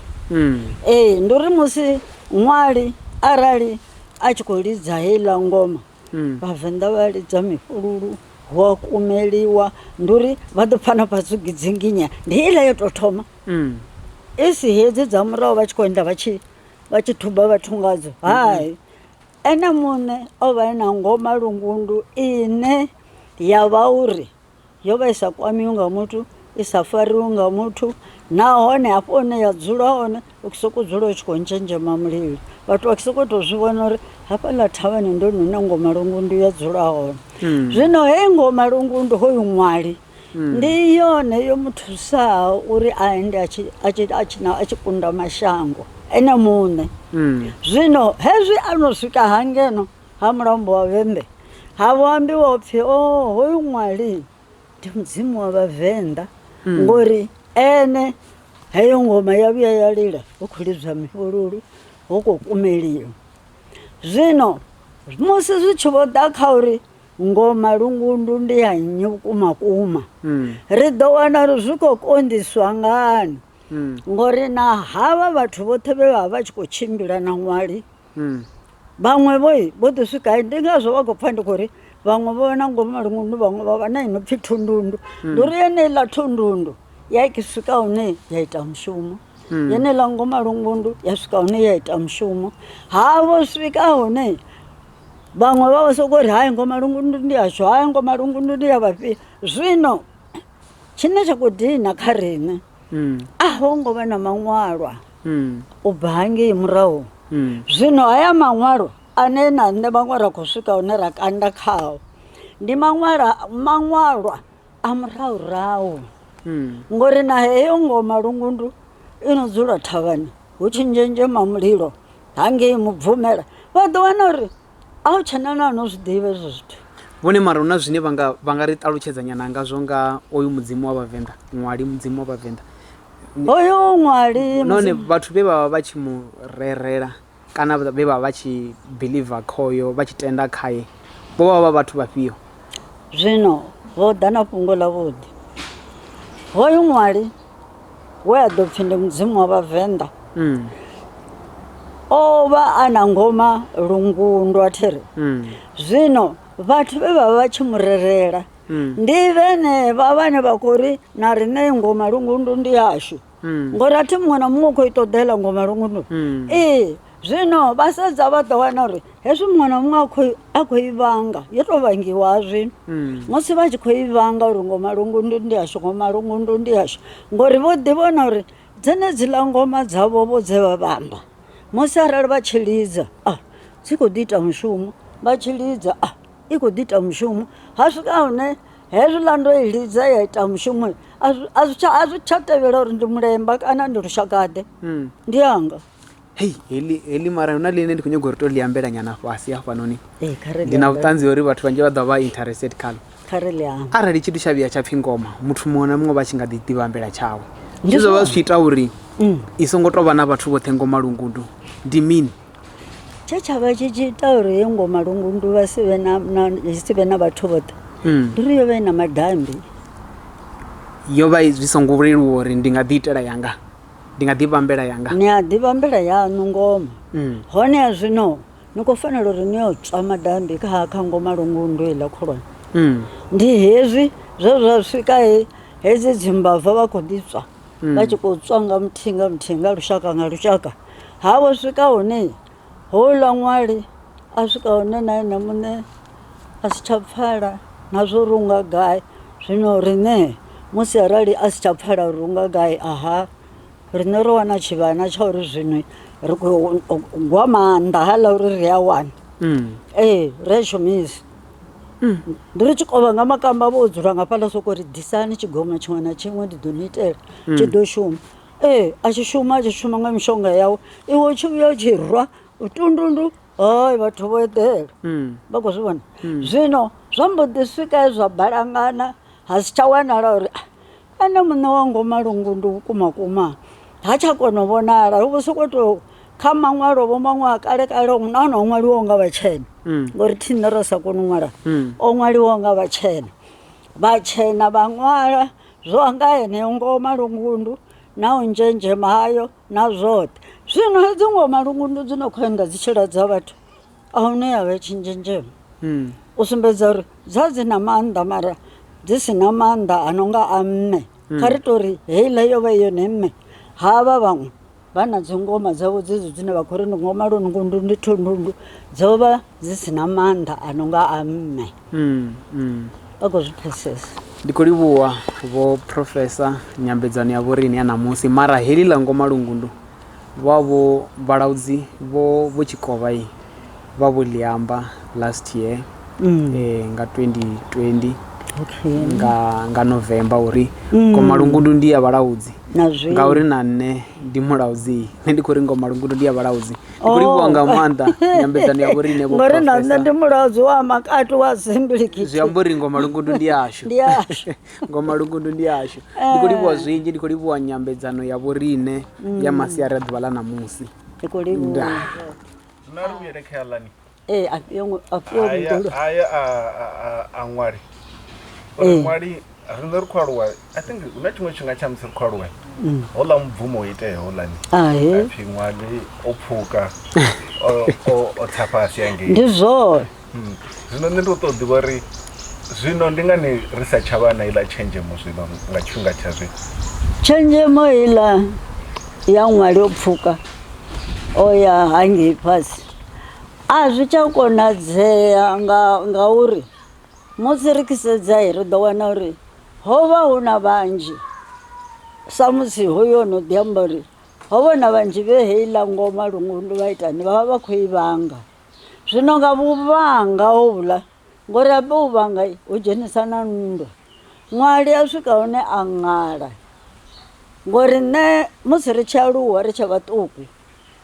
Ee, ndi uri musi ṅwali arali a tshi khou lidza heiḽa ngoma. mm. vhavenḓa vha lidza mifhululu hu a kumeliwa ndi uri vha ḓo pfana fhasi gidzinginya ndi iḽa yo tou thoma mm. i si hedzi dza murahu vha tshi khou enda vha tshi vha tshi thuba vhathu ngadzo hai ene muṋe o vha e na ngoma lungundu ine ya vha uri yo vha i sa kwamiwi nga muthu i sa fariwi nga muthu nahone hafho hune ya dzula hone u sokou dzula u tshi khou ntshenzhema mulilo vhathu vha sokou tou zwi vhona uri hafhaḽa thavhani ndo nune ngoma lungundu ya dzula hone hmm. zwino heyi ngoma lungundu hoyu ṅwali hmm. ndi yone yo mu thusaho uri a ende a tshi kunda mashango ene muṋe hmm. zwino hezwi a no swika hangeno ha mulombo wa vhembe ha vho ambiwa upfi o oh, hoyu ṅwali ndi mudzimu wa vhavenḓa mm. ngori ene heyo ngoma ya vhuya ya lila hu khou lidzwa mifhululu hu khou kumeliwa zwino musi zwi tshi vho ḓa kha uri ngoma lungundu ndi ya nnyi vhukuma kuma hmm. ri ḓo wana uri zwi khou konḓiswa ngani hmm. ngori na havha vhathu vhoṱhe vhe vha vha tshi khou tshimbila na ṅwali vhaṅwe vho vho ḓi swika ndi ngazwo vha khou pfha ndi khou ri vhaṅwe vho na ngomu malungundu vhaṅwe vha vha na i no pfhi thundundu ndi uri yeneiḽa thundundu ya i swika hune ya ita mushumo yeneiḽa ngomu malungundu ya swika hune ya ita mushumo ha vho swika hune vhaṅwe vha vha sokou ri hai ngomu malungundu ndi ashu hai ngomu malungundu ndi ya vhafhio zwino tshine tsha khou dina kha riṋe a ho ngo vha na maṅwalwa u bva hangei murahu. Zwino haya maṅwalo ane na nṋe vhaṅwe ra khou swika hune ra kanda khao ndi maṅwala maṅwalwa a murahurahu ngori na heyo ngoma lungundu i no dzula thavhani hu tshi nzhenzhema mulilo hangei mubvumela vha ḓo wana uri a hu tshena na no zwi ḓivha ezwo zwithu vhone mara hu na zwine vha nga vha nga ri ṱalutshedza nyana ngazwo nga oyu mudzimu wa vhavenḓa ṅwali mudzimu wa vhavenḓa hoyo ṅwali nahone Mudzimu- vhathu vhe vha vha vha tshi mu rerela kana vhe vha vha vha tshi believer khoyo vha tshi tenda khaye vho vha vha vhathu vhafhio zwino vho ḓa na fhungo ḽa vhuḓi hoyu ṅwali we a ḓo pfi ndi Mudzimu wa Vhavenḓa mm. o vha a na ngoma lungundwa thi ri mm. zwino vhathu vhe vha vha vha tshi mu relela mm. ndi vhenevha vhane vha khou ri na riṋe ngoma lungundu ndi yashu mm. ngori a thi muṅwe na muṅwe u khou i ṱoḓela ngoma lungundu mm. ee Zwino vha sedza vha ḓo wana uri hezwi muṅwe na muṅwe a khou i vhanga yo tou vhangiwa zwino mm. musi vha tshi khou i vhanga uri ngo malungundu ndi ashu ngo malungundu ndi ashu ngori vho ḓi vhona uri dzenedzi ḽa ngoma dzavho vho dze vha vhamba musi arali vha tshi lidza a dzi khou ḓi ita mushumo vha tshi lidza a i khou ḓi ita mushumo ha swika hune hezwi ḽa ndo i lidza ya ita mushumo a zwi tsha tevhela uri ndi mulemba kana ndi lushakaḓe mm. ndi anga hei heḽi heḽi mara huna ḽine ndi khou nyagori to ḽi ambela nyana fhasi hafhanoni eh, ndi na vhuṱanzi uri vhathu vhanzhi vha ḓo vha interested khalo arali tshithu tsha vhuya tsha pfhi ngoma muthu muṅwe na muṅwe vha tshi nga ḓi ḓivha ambela tshawe zwi zwo vha zwi tshi ita uri mm. i songo tou vha na vhathu vhoṱhe ngoma lungudu ndi mini tshe tsha vha tshi tshi ita uri he ngoma lungundu vha si vhe na si vhe na vhathu vhoṱhe mm. ndi uri yo vha i na madambi yo vha zwi songo leluwa uri ndi nga ḓi itela yanga Ndi nga ḓivha mvela yanga? Ni a ḓivha mvela yaṋu ngoma. Honeha zwino ni khou fanela uri ni yo tswa madambi kha ha kha ngoma lungundwe iḽa khulwane. Ndi hezwi zwe zwa swika he hedzi dzimbava vha khou ḓi tswa vha tshi khou tswa nga muthihi nga muthihi nga lushaka nga lushaka. Ha vho swika hune. Houḽa ṅwali a swika hune na ene muṋe a si tsha pfala na zwo ri unga gai zwino riṋe musi arali a si tsha pfala uri unga gai aha riṋe ro wana tshivhana tsha uri zwino ri khou gwa maanḓa haaḽa uri ri a wana ee ri a shumisa. Ndi ri tshi kovha nga makamba vho dzula nga fhaḽa soko ri ḓisani tshigombela tshiṅwe na tshiṅwe ndi ḓo ni itela tshi ḓo shuma. Ee a tshi shuma a tshi shuma nga mishonga yawe iwe u tshi vhuya u tshi rwa tundundu hai vhathu vho eḓela vha khou zwi vhona zwino zwa mbo ḓi swika he zwa balangana ha si tsha wanala uri "Ah, ene muṋe wa ngomalungu ndi vhukuma kuma ha tsha kona u vhonala hu vho sokou tou kha maṅwalo vho maṅwe a kale kale hu na hone o ṅwaliwaho nga vhatshena ngori thine ra sa koni u ṅwala o ṅwaliwaho nga vhatshena vhatshena vha ṅwala zwo nga heneyo ngoho malungundu na u nzhenzhema hayo na zwoṱhe zwino hedzo ngoho malungundu dzi no khou enda dzi tshi ladza vhathu a hune ya vha tshi nzhenzhema hmm. u sumbedza uri dza dzi na maanḓa mara dzi si na maanḓa a no nga a mme hmm. kha ri tori heiḽa yo vha yone mme ha vha vhaṅwe vha na dzingoma dzavho dzedzo dzine vha khou ri ndi ngoma lundundu ndi thundundu dzo vha dzi si na maanḓa a no nga a mme mm, mm. vha khou zwi pfesesa ndi khou livhuwa vho profesa nyambedzano ya vhorini ya ṋamusi mara heḽi ḽa ngoma lungundu vha vho vhalaudzi vho vho tshikovha vhavhuliamba last year mm. eh, nga 2020 okay. nga, nga november uri mm. komalungundu ndi ya vhalaudzi ngauri na nṋe ndi mulaudzi nṋe ndi khou ri ngomalungundu ndi ya vhalaudzi ndi khou livhuwa oh. nga maanḓa nyambedzano ya vhorine ngori na nṋe ndi mulaudzi wa makati wa zimbiliki zwi amba uri ngomalungundu ndi yashu ngomalungundu ndi yashu ndi khou livhuwa eh. zwinzhi ndi khou livhuwa nyambedzano ya vhorine ya mm. masiari a ḓuvha ḽa ṋamusi ndi khou livhuwa zwino a ri vhuyele kha yaḽani ee a fhiyo ngo- a fhiyo aya mihulu aya a a- a- a ṅwali uri Ee. ṅwali riṋe ri khou aluwa i think hu na tshiṅwe tshifhinga tsha musi ri khou aluwa houḽa mubvumo o itea houḽani ahe apfhi ṅwali o pfuka o- o- o tsa fhasi hangei ndi zwone Zwino nṋe ndi ṱoḓa u ḓivha uri zwino ndi ngani ri sa tsha vha na iḽa tshenzhemo zwino nga tshifhinga tsha zwino tshenzhemo iḽa ya ṅwali o pfuka o ya hangei fhasi a zwi tsha konadzea nga ngauri musi ri tshi sedza ri ḓo wana uri ho vha hu na vhanzhi samusi hoyo o no ḓi amba uri ho vha hu na vhanzhi vhe heiḽa ngoma lwa ita vha vha vha khou i vhanga. Zwino nga vhuvhanga hovhuḽa, ngori hafha u vhanga hu dzhenisa na nndwa, ṅwali a swika hune a ṅala ngori nṋe musi ri tshi aluwa ri tshe vhaṱuku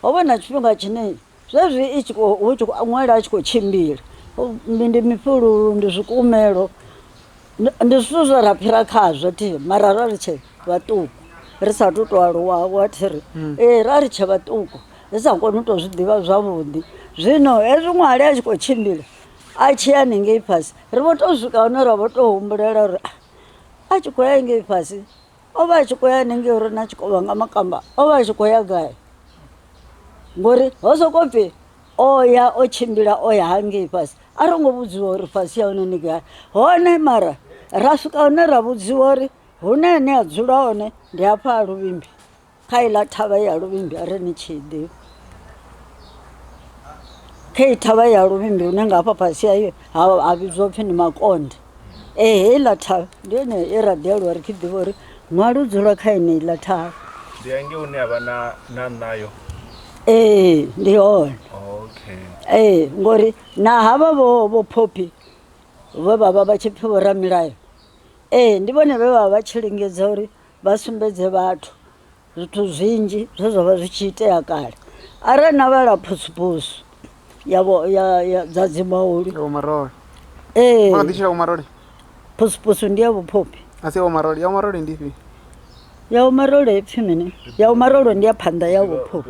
ho vha na tshifhinga tshine zwezwi i tshi khou ṅwala a tshi khou tshimbila ndi mifhululu ndi zwikumelo. Ndi zwithu zwe ra fhira khazwo thi mara ra ri tshe vhaṱuku ri sa tu to aluwa wa thiri ee ra ri tshe vhaṱuku ri sa koni u to zwi ḓivha zwavhuḓi zwino hezwi ṅwali a tshi kho tshimbila a tshi ya haningei fhasi ri vho to swika hune ra vho to humbulela uri a tshi khou ya ngei fhasi o vha a tshi khou ya haningei uri na tshikovha nga makamba o vha a tshi khou ya gai ngori ho soko pfhi o ya o tshimbila o ya hangei fhasi a ro ngo vhudziwa uri fhasi ya hone ni gai hone mara ra swika hone ra vhudziwa uri hune ane a dzula hone ndi hafha ha luvhimbi kha iḽa thavha ya luvhimbi a ri ni tshi ḓivha kha i thavha ya luvhimbi hune nga hafha fhasi hayo ha vhidzwa upfhi ndi makonde Ee, heiḽa thavha ndi yone ye ra ḓialuwa ri tshi ḓivha uri nwa lu dzula kha yeneiḽa thavha. Ndi hangei hune ha vha na na ṋayo? Ee, ndi hone. Okay. Ee, ngori na havha vho vho Phophi vhe vha vha vha tshi pfhi vho Ramilayo. Ee, ndi vhone vhe vha vha tshi lingedza uri vha sumbedze vhathu Zwithu zwinzhi zwe zwa vha zwi tshi itea kale arali na vhala phusuphusu ya vho ya ya dza dzi mauli ya vhomarole ee vha ḓi tshila vhomarole phusuphusu ndi ya vhuphophi a si ya vhomarole ya vhomarole ndi ifhio ya vhomarole ipfi mini ya vhomarole ndi ya phanḓa ya vhuphophi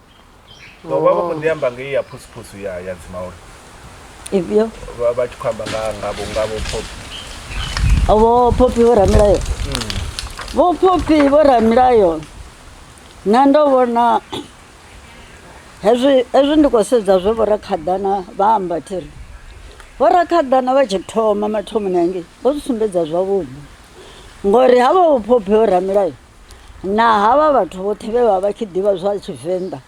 vha vha kho ḓi amba ngei ya phusuphusu ya ya dzimauli ifhio vha tshi khou amba nga ngavho ngavho phopi vho phopi vho ramilayo hmm. vho phopi vho ramilayo nṋe ndo vhona hezwi hezwi ndi khou sedza zwe vho rakhaḓana vha amba thiri vho rakhaḓana vha tshi thoma mathomoni angei vho zwi sumbedza zwavhuḓi ngori havha vho phopi vho ramilayo Naa havha vhathu vhoṱhe vhe vha vha tshi ḓivha zwa Tshivenḓa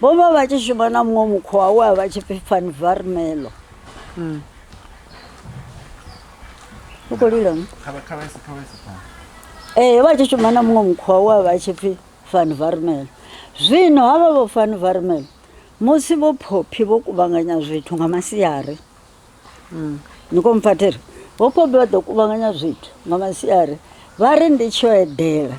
vho vha vha tshi shuma na muṅwe mukhowa we a vha tshi pfi Van Varmelo? Mm. U khou lila ni? Kha kha vha kha vha sa. Eh vha tshi shuma na muṅwe mukhowa we a vha tshi pfi Van Varmelo. Zwino havha vho Van Varmelo musi vho phophi vho kuvhanganya zwithu nga masiari. Mm. Ni khou mphathela. Vhopobi vha ḓo kuvhanganya zwithu nga masiari vha ri ndi tsho edela.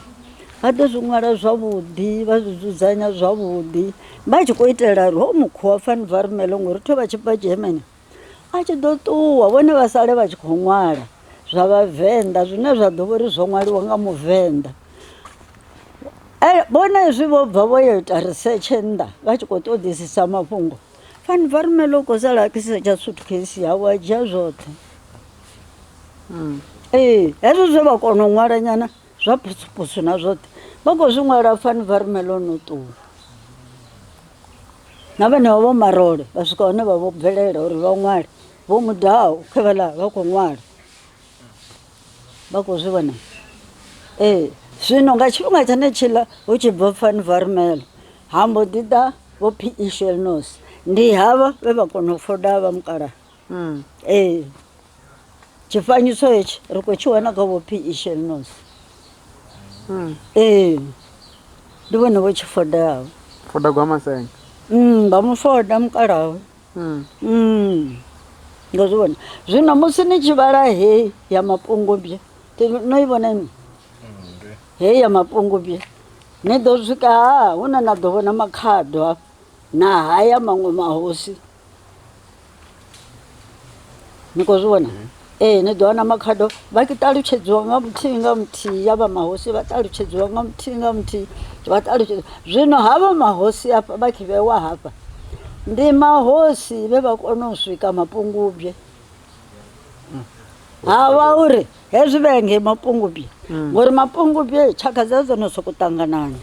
Vha ḓo zwi ṅwala zwavhuḓi, vha zwi dzudzanya zwavhuḓi. Vha tshi khou itela uri ho mukhuwa fani vha rumele ngori tho vha tshi bva Germany. A tshi ḓo ṱuwa vhone vha sale vha tshi khou ṅwala zwa vhavenḓa zwine zwa ḓo vhori zwo ṅwaliwa nga muvenḓa. Vhone zwi vho bva vho yo ita research nnḓa vha tshi khou ṱoḓisisa mafhungo. fani va rumela u khou sala a kisa tsha suitcase yawe a dzhia zwoṱhe hmm. ee hezwo zwe vha kona u ṅwala nyana zwa phusuphusu na zwoṱhe vha khou zwi ṅwala fani va rumela o no ṱuwa na vhenevho vho marole vha swika hone vha vho bvelela uri vha ṅwale vho mudaho khe vhala vha khou ṅwala vha khou zwi vhona ee zwino nga tshifhinga tshenetshiḽa hu tshi bva fani varumelo ha mbo ḓi ḓa vho phi ishelnos ndi havha vhe vha kona u foda vha mukala mm. ee tshifanyiso hetshi ri khou tshi wana kha vho phi ishelnos mm. ee ndi vhone vho tshi fodaho foda gwa masenga mm, vha mu foda mukalawe No zwi vhona zwino musi ni tshi vhala heyi ya mapungubye no i vhona ini heyi ya mapungubye ni ḓo swika ha hune na ḓo vhona makhado hafha na haya maṅwe mahosi ni khou zwi vhona. Ee, ni ḓo wana makhado vha tshi ṱalutshedziwa nga muthihi nga muthihi ya vha mahosi vha ṱalutshedziwa nga muthihi nga muthihi vha ṱalutshedza zwino havha mahosi afha vha tshi vhewa hafha ndi mahosi vhe vha kona u swika mapungubye ha vha uri hezwi vhe ngei mapungubye ngori mapungubye tshaka dza dzo no sokou ṱanganana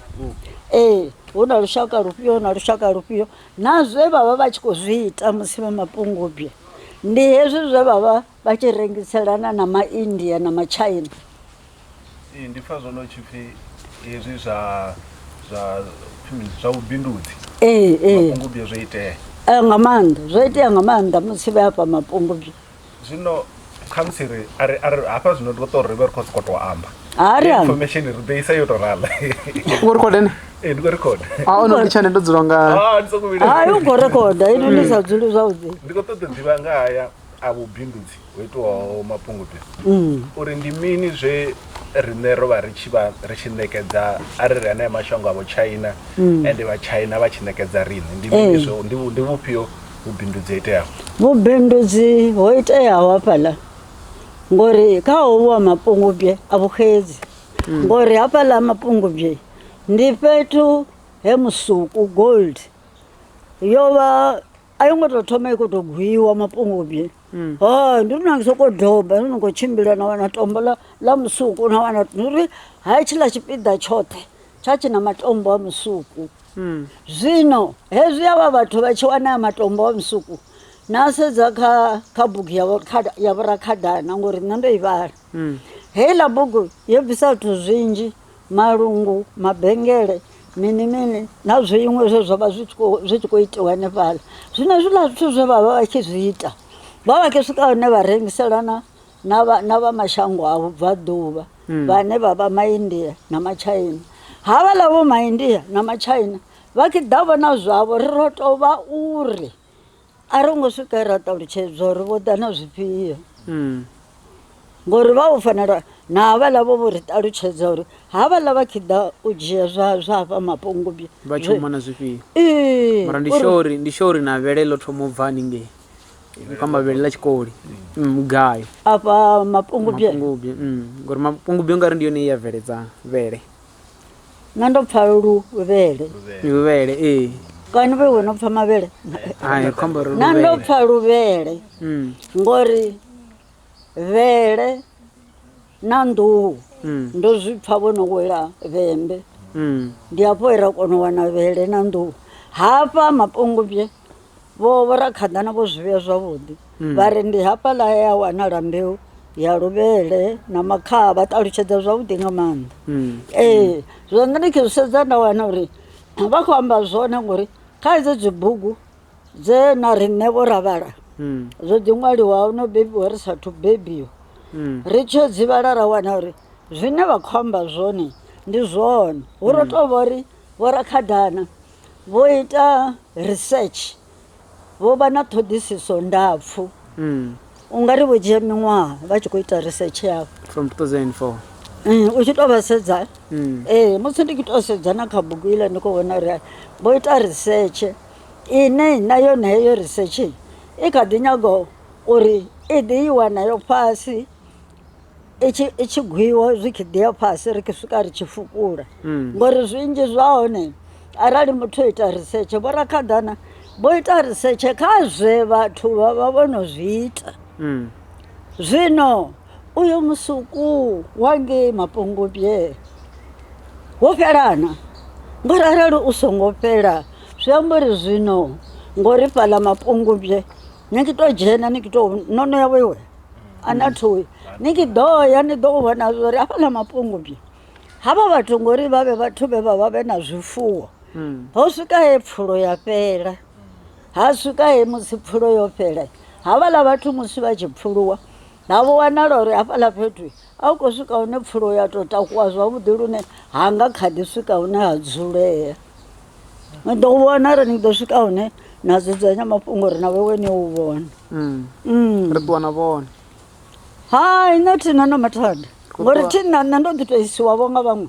ee hu na lushaka lufhio na lushaka lufhio Na zwe vha vha vha tshi khou zwi ita musi vhe mapungubwe ndi hezwi zwe vha vha vha tshi rengiselana na Maindia na Matshaina. Ee, ndi pfa zwono tshi pfi hezwi zwa zwa zwa vhubindudzi Ee, ee, mapungubwe zwo itea. eh, nga maanḓa zwo itea nga maanḓa musi vhe afha mapungubwe. zwino khamusi ri ari ari hafha zwino ri ṱo ri vhe ri khou sokou tou amba hari hari information ri ḓo isa yo tou rala u khou record ene ee ndi khou record a o no litsha nṋe ndo dzula nga Ah, ndi sokou vhila hayi u khou rekoda ino ndi sa dzuli zwavhuḓi ndi khou ṱoḓa u ḓivha nga haya a vhubindudzi ho itiwaho mapungubwe uri ndi mini zwe riṋe ro vha ri tshi vha ri tshi ṋekedza a ri ri anea mashango avho china ende vha china vha tshi ṋekedza riṋe ndi mini Ee. zwo ndi vhu- ndi vhufhio vhubindudzi ho iteaho vhubindudzi ho iteaho hafhaḽa ngori kha hovhu wa mapungubye a vhuxedzi hmm. ngori hafhaḽa mapungubye ndi fhethu he musuku gold yo vha a yo ngo tou thoma i khou tou gwiwa mapungubye hmm. ha ndi ri nangisa u khou doba ndi ni khou tshimbila na wana tombo ḽa musuku na wana ndi ri ha tshiḽa tshipiḓa tshoṱhe tsha tshi na matombo a musuku Zwino hezwi avha vhathu vha tshi wanea matombo a musuku, na sedza kha kha bugu ya vhurakhada ya vhurakhadana ngori nṋe ndo i vhala. Heiḽa bugu yo bvisa zwithu zwinzhi, malungu, mabengele, mini mini na zwiṅwe zwe zwa vha zwi tshi kho zwi tshi kho itiwa hanefhaḽa. Zwino hezwiḽa zwithu zwe vha vha vha tshi zwi ita, vha vha tshi swika hune vha rengiselana na vha, na vha mashango a vhubvaḓuvha hmm. vhane vha vha maindia na matshaina havhaḽa vho maindia na matshaina vha khe ḓa vhona zwavho ri ro tou vha uri a ro ngo swika ra ṱalutshedzwa uri vho ḓa na zwifhio hmm. ngori vha u fanela na havhaḽa vho vho ri ṱalutshedza uri havhaḽa vha khe ḓa u dzhia zwa zwa hafha mapungubye vha tshomona zwifhio ee ndi shori ndi shori na vhele ḽo thoma u bva haningei kamba vhele ḽa tshikoli mugayo mm, afha mapungubye mm, ngori mapungubye ungari ndi yone ya bveledza vhele na ndo pfa luvhele luvhele ee kani vhe wena pfa mavhele na ndo pfa luvhele mm. ngori vhele na nḓuhu ndo zwi pfa vho no wela vhembe ndi hafho he ra kona u wana vhele na nḓuhu hafha mapungubye vho vho ra khaḓana vho zwi vhea zwavhuḓi vha ri ndi hafha ḽa ya wanala mbeu ya luvhele na makhaha vha ṱalutshedza zwavhuḓi nga maanḓa ee zwa nṋe ndi khe zwi sedza nda wana uri vha khou amba zwone ngori kha hedzo dzibugu Dze na riṋe vho ra vhala, zwo ḓi ṅwaliwaho no bebiwa ri sa athu bebiwa, ri tshi yo dzi vhala ra wana uri zwine vha khou amba zwone ndi zwone. Hu ro tou vha uri vhorakhadana vho ita research, vho vha na ṱhoḓisiso ndapfu. U nga ri vho dzhia miṅwaha vha tshi khou ita research yavho. From 2004. U tshi tou vha sedza, ee musi ndi tshi tou sedza na kha bugu iḽa ndi khou vhona uri vho ita research. Ine na yone heyo risetshe i kha ḓi nyaga uri i ḓi i wa nayo fhasi i tshi i tshi gwiwa zwi kha ḓi ya fhasi ri swika ri tshi fukula ngori zwinzhi zwa hone arali muthu o ita risetshe vho rakhaḓana vho ita risetshe kha zwe vhathu vha vha vho no zwi ita zwino. uyo musuku wa ngei mapungubye wo fhelana ngori arali u songo fhela zwi amba uri zwino ngori fhaḽa mapungubye ni tshi to dzhena ni to no no ya wewe a na thoyi ni tshi ḓo ya ni ḓo vhona zwori hafhaḽa mapungubye havha vhathu ngori vha vhe vhathu vhe vha vha vhe na zwifuwo ho swika he pfulo ya fhela Ha swika he musi pfulo yo fhela, havhaḽa vhathu musi vha tshi pfuluwa ha vho wanala uri hafhaḽa fhethu a hu khou swika hune pfulo ya tou takuwa zwavhuḓi lune ha nga kha ḓi swika hune ha dzulea ni ḓo vhona ri ni ḓo swika hune na dzudzanya mafhungo uri na vhewe ni u vhona mm. ri ṱuwa na vhone hai nṋe thina na mathada ngori thina nṋe ndo ḓi tou isiwavho nga vhaṅwe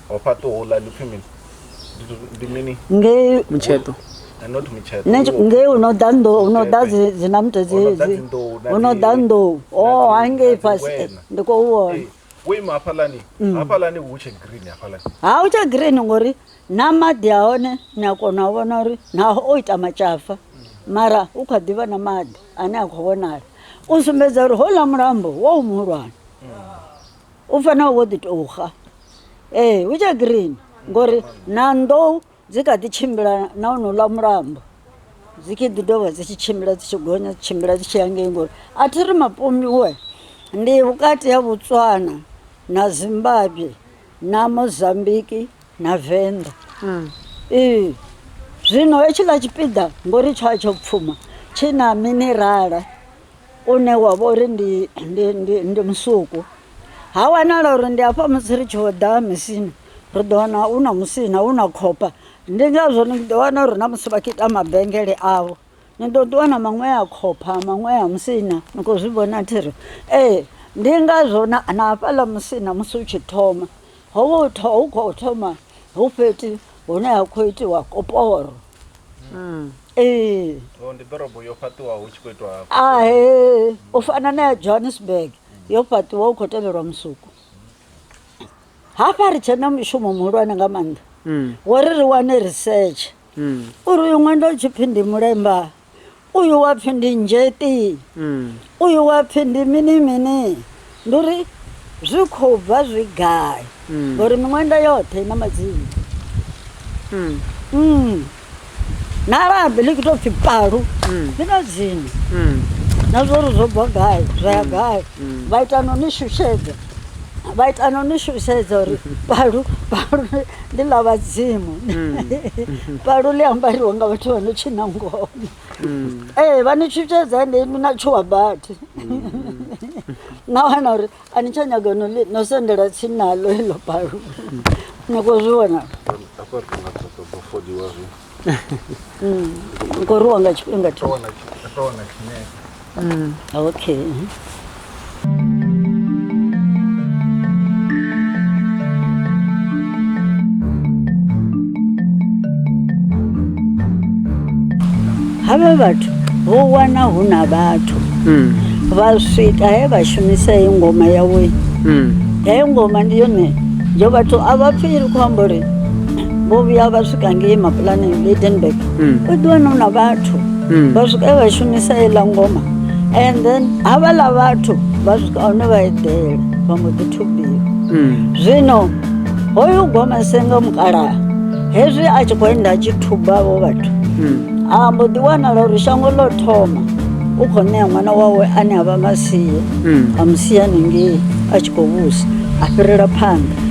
wa fhaṱa houḽa ndi pfhi mini Ndi- ndi mini ngei mutsheṱo Eh, not mutsheṱo ne- Iwo- ngei u no ḓa ndo u no ḓa dzi- dzinamto Ho no ḓa dzedzi dzinḓou na u no ḓa dzi- nḓou na o dzi- hangei na dzi fhasi eh, ngwena. ndi khou vhona Eh, wo ima hafhaḽani hafhaḽani hu tshe green hafhaḽani ha u tsha green ngori na maḓi a hone ni a kona u vhona uri naho o ita matshafa mara u kha ḓivha na maḓi ane a khou vhonala u sumbedza uri houḽa mulambo wo muhulwane u fanela wo ḓi tou xa ee hu tshe green ngori na nḓou dzi kha ḓi tshimbila na honouḽa mulambo dzi kha ḓi dovha dzi tshi tshimbila dzi tshi gonya dzi tshimbila dzi tshi ya ngei ngori a thi ri mapomiwe ndi vhukati ha botswana na zimbabwe na mozambiki na venḓa ee zwino hetshiḽa tshipiḓa ngori tsho a tsho pfuma tshi na minerala une wa vha uri ndi ndi ndi ndi musuku ha wanala uri ndi hafha musi ri tshi ḓa misini ri ḓo wana u na musina u na khopa ndi ngazwo ni ḓo wana uri na musi vha tshi ita mabengele avho ni ḓo ṱuwa na maṅwe a khopha maṅwe a musina ni khou zwi vhona thiri ee ndi ngazwo na hafhaḽa musina musi u tshi thoma ho vha hu khou thoma hu fhethu hune ha khou itiwa koporo. Mm. ee Oh, ndi ḓorobo yo fhaṱiwaho hu tshi khou itwa hafhu. a he u fana na ya johannesburg yo fhaṱiwa u khou tevhelwa musuku hafha ri tshena mushumo muhulwane nga maanḓa Mm. wo ri ri wane research Mm. uri uyu ṅwenda u tshi pfhi ndi mulemba uyu wa pfi ndi nzheti mm. uyu wa pfi ndi mini mini ndi uri zwi khou bva zwi gai mm. ngori miṅwenda yoṱhe i na madzina mm. mm. na labi ḽi khou tou pfi palu mm. ḽi na dzina mm. na zwo ri zwo bva gai zwa ya mm. gai mm. vha ita no ni shushedza vha ita no ni shushedza uri palu palu ndi ḽa vhadzimu mm. palu ḽi ambariwa nga vhathu vha no tshina ngoma mm. ee vha ni shushedza ende inwi na tshuwa badi mm. na wana uri a ni tsha nyaga no sendela tsini naḽo iḽo palu nyako zwi vhona Ngo ruwa nga tshifhinga tsho. Wana ndo wana tshinefu. Okay. mhm. Havha vhathu vho wana hu na vhathu Mm. vha swika he vha shumisa heyi ngoma yawe Mm. heyo ngoma ndi yone yo vhathu a vha pfi i khou amba uri vho vhuya vha swika ngei mapulaneng lidenburg mm. u ḓi wana na vhathu mm. vha swika vha shumisa iḽa ngoma and then havhaḽa vhathu vha swika hone vha eḓela vha mbo ḓi thubiwa mm. zwino hoyu goma senga mukalaha hezwi a tshi khou enda a tshi thuba vho vhathu a mbo ḓi wanala uri shango ḽo thoma u khou ṋea ṅwana wawe ane a vha masie a musia ningei a tshi khou vhusa a fhirela phanḓa